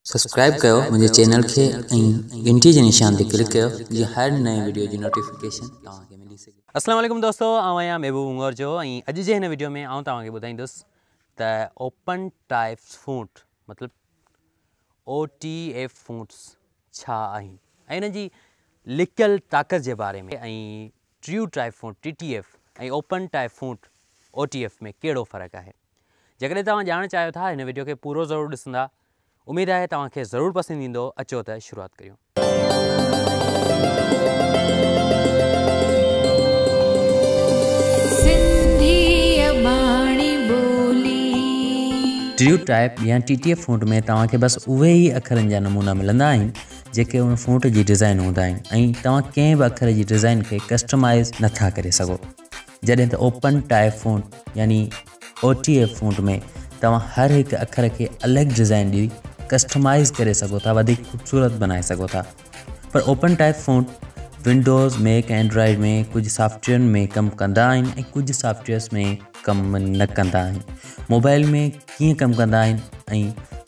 Subscribe ڪيو منهنجي channel کي ۽ گهنٽي جي نشان تي ڪلڪ ڪيو جيئن هر نئين وڊيو جي نوٽيفڪيشن توهان کي ملي سگهي. السلام عليڪم دوستو آئون آهيان محبوب اونگور جو ۽ اڄ جي هن وڊيو ۾ آئون توهان کي ٻڌائيندس ته اوپن ٽائيپس فونٽ مطلب او ٽي ايف فونٽس ڇا آهن ۽ انهن جي لڪيل طاقت جي باري ۾ ۽ true type font T T F ۽ open type font O T F ۾ ڪهڙو فرق آهي جيڪڏهن توهان ڄاڻڻ چاهيو ٿا هن وڊيو کي پورو ضرور ڏسندا اميد آهي توهان کي ضرور پسند ايندو اچو ته شروعات ڪريون. ٽريو ٽائپ يا ٽي ٽي ايف فونٽ ۾ توهان کي بس اهي ئي اکرن جا نمونا ملندا آهن جيڪي ان فونٽ جي ڊيزائن هوندا آهن ۽ توهان ڪنهن به اکر جي ڊيزائن کي ڪسٽمائز نٿا ڪري سگهو جڏهن ته اوپن ٽائي فونٽ يعني OTF فونٽ ۾ توهان هر هڪ اکر کي الڳ ڊزائن ڏئي ڪسٽمائز ڪري سگهو ٿا وڌيڪ خوبصورت بنائي سگهو ٿا پر open type font windows Mac ۽ Android ۾ ڪجهه سافٽويئرن ۾ ڪم ڪندا آهن ۽ ڪجهه سافٽويئرس ۾ ڪم نه ڪندا آهن موبائل ۾ ڪيئن ڪم ڪندا آهن ۽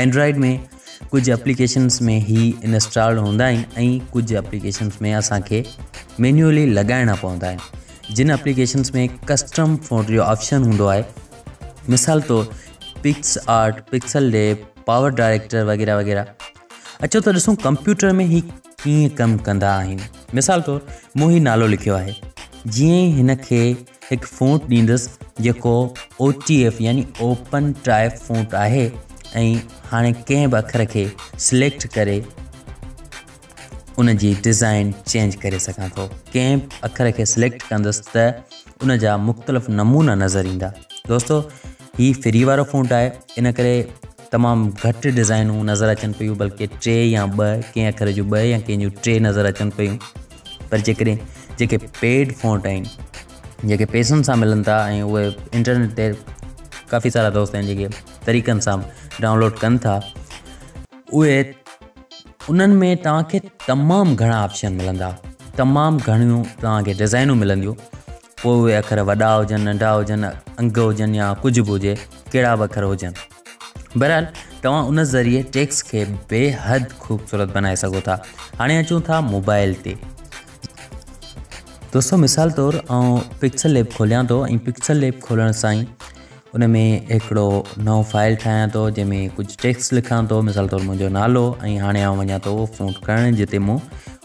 اينڊرائيڊ ۾ ڪجهه اپليڪيشنس ۾ هي انسٽالڊ هوندا آهن ۽ ڪجهه اپليڪيشنس ۾ اسان کي مينيولي لڳائڻا پوندا آهن جن اپليڪيشنس ۾ ڪسٽم فونٽ جو آپشن هوندو آهي مثال طور PicsArt pixel deep PowerDirector وغيرہ وغيرہ اچو ته ڏسون ڪمپيوٽر ۾ هي ائين ڪم ڪندا آهن. مثال طور مون هي نالو لکيو آهي جيئن ئي هن کي هڪ فونٽ ڏيندس جيڪو OTF يعني اوپن ٽائپ فونٽ آهي ۽ هاڻي ڪنهن به اکر کي سليڪٽ ڪري ان جي ڊيزائن چينج ڪري سگهان ٿو ڪنهن به اکر کي سليڪٽ ڪندس ته ان جا مختلف نمونا نظر ايندا دوستو هي فري وارو فونٽ آهي ان ڪري تمام گهٽ ڊزائنون نظر اچن پيون بلڪه ٽي يا ٻه ڪنهن اکر جون ٻه يا ڪنهن جون ٽي نظر اچن پيون پر جيڪڏهن جيڪي پيڊ فونٽ آهن جيڪي پيسن سان ملن ٿا ۽ اهي انٽرنيٽ تي ڪافي سارا دوست آهن جيڪي طريقن سان ڊائونلوڊ ڪن ٿا اهي انهن ۾ توهانکي تمام گهڻا آپشن ملندا تمام گهڻيون توهانکي ڊزائنون ملنديون پوء اهي اکر وڏا هجن، ننڍا هجن، انگ هجن يا ڪجهه به هجي، ڪهڙا به اکر هجن. بهرحال توهان ان ذريعي ٽيڪسٽ کي بيحد خوبصورت بنائي سگهو ٿا. هاڻي اچون ٿا موبائل تي. دوستو مثال طور آئون پڪسل ليب کوليان ٿو ۽ پڪسل ليب کولڻ سان ئي ان ۾ هڪڙو نئون فائل ٺاهيان ٿو جنهن ۾ ڪجهه ٽيڪسٽ لکان ٿو مثال طور منهنجو نالو ۽ هاڻي آئون وڃان ٿو اهو فونٽ ڪرڻ جتي مون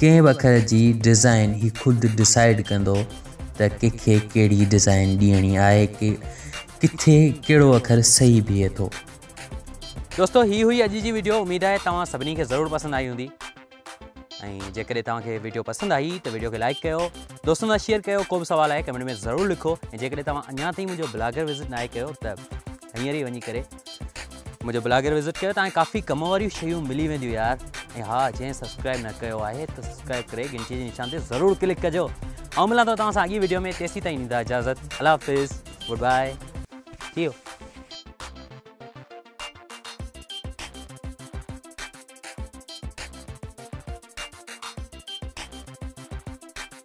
ڪنهن وکر جي ڊزائين هي خود ڊسائيڊ ڪندو ته ڪنهن کي ڪهڙي ڊزائين ڏيڻي آهي ڪٿي ڪهڙو اکر صحيح بيهي ٿو. دوستو هي هئي اڄ جي ويڊيو اميد آهي توهان سڀني کي ضرور پسند آئي هوندي ۽ جيڪڏهن توهان کي ويڊيو پسند آئي ته ويڊيو کي لائڪ ڪيو دوستن سان شيئر ڪيو ڪو به سوال آهي ڪمينٽ ۾ ضرور لکو ۽ جيڪڏهن توهان اڃا تائين منهنجو بلاگر وزٽ ناهي ڪيو ته هينئر ئي وڃي ڪري منهنجو بلاگر وزٽ ڪيو تان ڪافي ڪم واريون شيون ملي وينديون يار ۽ ها جنهن سبسڪرائب نه ڪيو آهي ته سبسڪرائب ڪري گھنٽي جي نشان تي ضرور ڪلڪ ڪجو آئون ملان ٿو توهان سان اڳي ويڊيو ۾ تيسين تائين ڏيندا اجازت الله حافظ گڊ بائي ٿي ويو